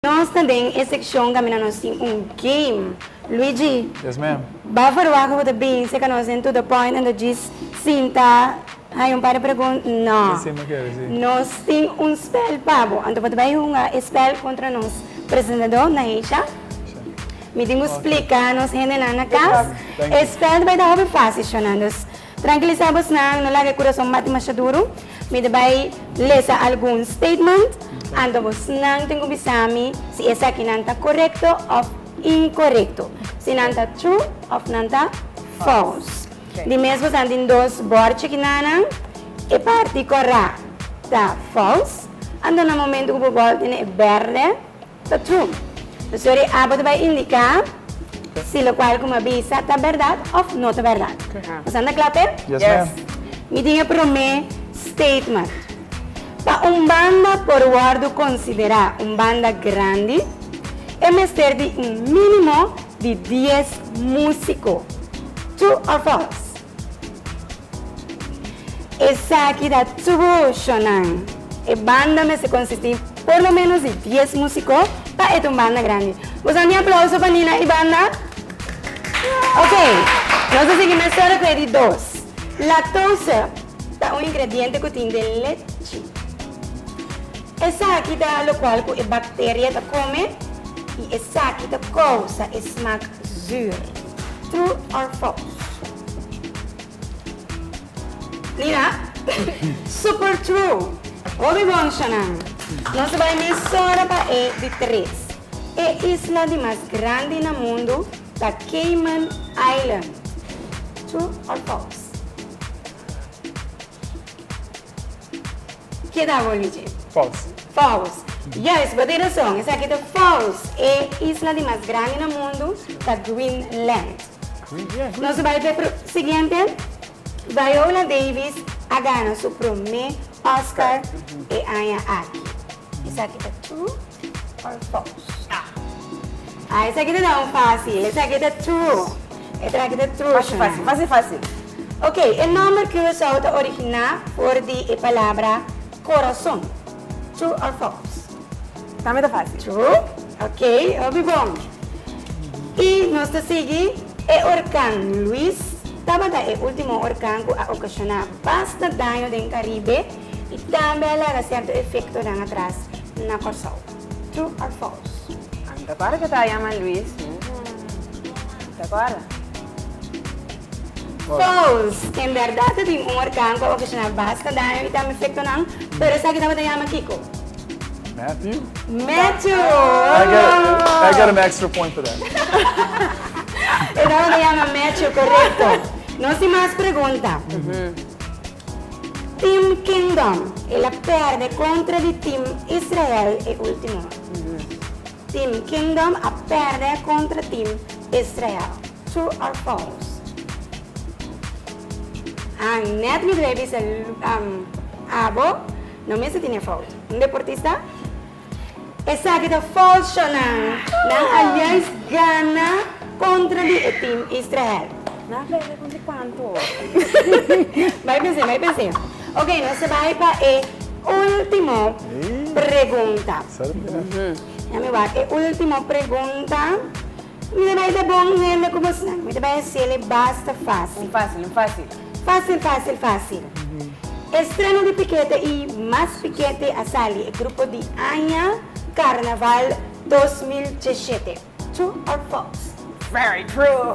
Nos ta den e sekshon kaminda nos tin un game. Luigi, ba verwacht ku bo ta binse ku nos den To The Point en ta djis sinta haya un par di pregunt? No. Nos tin un spèl pa bo. Anto bo ta bai hunga e spèl kontra nos presentadó Naisha. Mi tin ku splika nos hendenan na kas. E spèl ta bai ta hopi fásil, Shunan. Dus Trankilisá bosnan, no laga e kurason bati masha duru. Mi ta bai lesa algun statement, anto bosnan tin ku bisa mi si esakinan ta korekto òf inkorekto, si nan ta true òf nan ta fòls. Di mes bosnan tin dos bòr chikinanan, e parti kòrá ta fòls, anto na momentu ku bo bòl tene e bèrdè, Ta true. Pasobra e abo ta bai indica si locual cu mi a bisa ta berdad of no ta berdad. Nos a nta cla pe? Yes ma'am. Mi tin e prome statement. Pa un banda por wordo considera un banda grandi, e mester di un minimo di dies musico. True or false? Esaki ta tubo shownan. E banda mester konsistí por lo ménos di dies músiko pa e ta un banda grandi. Bo sa mi aplauso pa Nina i banda? Ok, nos ta sigui mester ku e di dos. Lactose ta un ingrediente ku tin den lechi. Esaki ta lokual ku e bakteria ta kome i esaki ta kousa e smak zùùr. True or false? Lina, Super true! Obi bonshonan! Nos bai mes sora pa e di tres. E isla di mas grandi na mundu ta Cayman Island. True or false? Keda bo li dje. False. False. Juist, bo tin rason, esaki ta false. E isla di mas grandi na mundu ta Greenland. Greenland. Nos a bai pa e pro, siguiente. Viola Davis a gana su promé Oscar e aña aki. Esaki ta true or false? Ah, esaki ta na un fácil. Esaki ta true. E traki ta true, Fácil, Shona. fácil, fácil, fácil. Ok, e nòmber Curaçao ta originá for di e palabra corazón. True or false? Tambe ta fácil. True. Ok, hopi bon. I nos ta sigui. E orkan Luis tabata e último orkan ku a okashoná basta daño den Karibe. y tambe a laga cierto efectonan atras na Corsou. True or false? A mi ta acorda cu e ta yama Luis, mi no ta acorda. False! En berdad ta tin un orkan cu a ocasiona basta daño y tambe efectonan, pero esaki tabata yama kico? Matthew. Matthew! Bravo! I get an extra point for that. E tabata yama Matthew, corecto. Nos tin mas pregunta. Team Kingdom, el a perde kontra di Team Israel e ultimo Team Kingdom a perde kontra Team Israel True or false Ahn net mi dwey bisa Abo no mester tine fout Un deportista Esaki ta falsonan. Nan a juis gana kontra di e tim Israel. Nan a pèrdè kontra kuantu? Bai pense, bai pense. Oke, nos ta bai pa e ultimo pregunta. Djami wak. E ultimo pregunta. Mi ta bai da bon hende ku mas nan. Mi ta bai hasiel e basta fásil. Un fásil, un fásil. Fásil, fásil, fásil. Estreno di pikete i mas pikete a sali e grupo di aña Karnaval dos mil djeshete. True or false? Very true!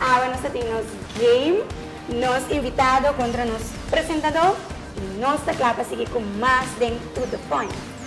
Awe nos ta tin nos game, nos invitado kontra nos presentadó i nos ta kla pa sigui ku mas den To The Point.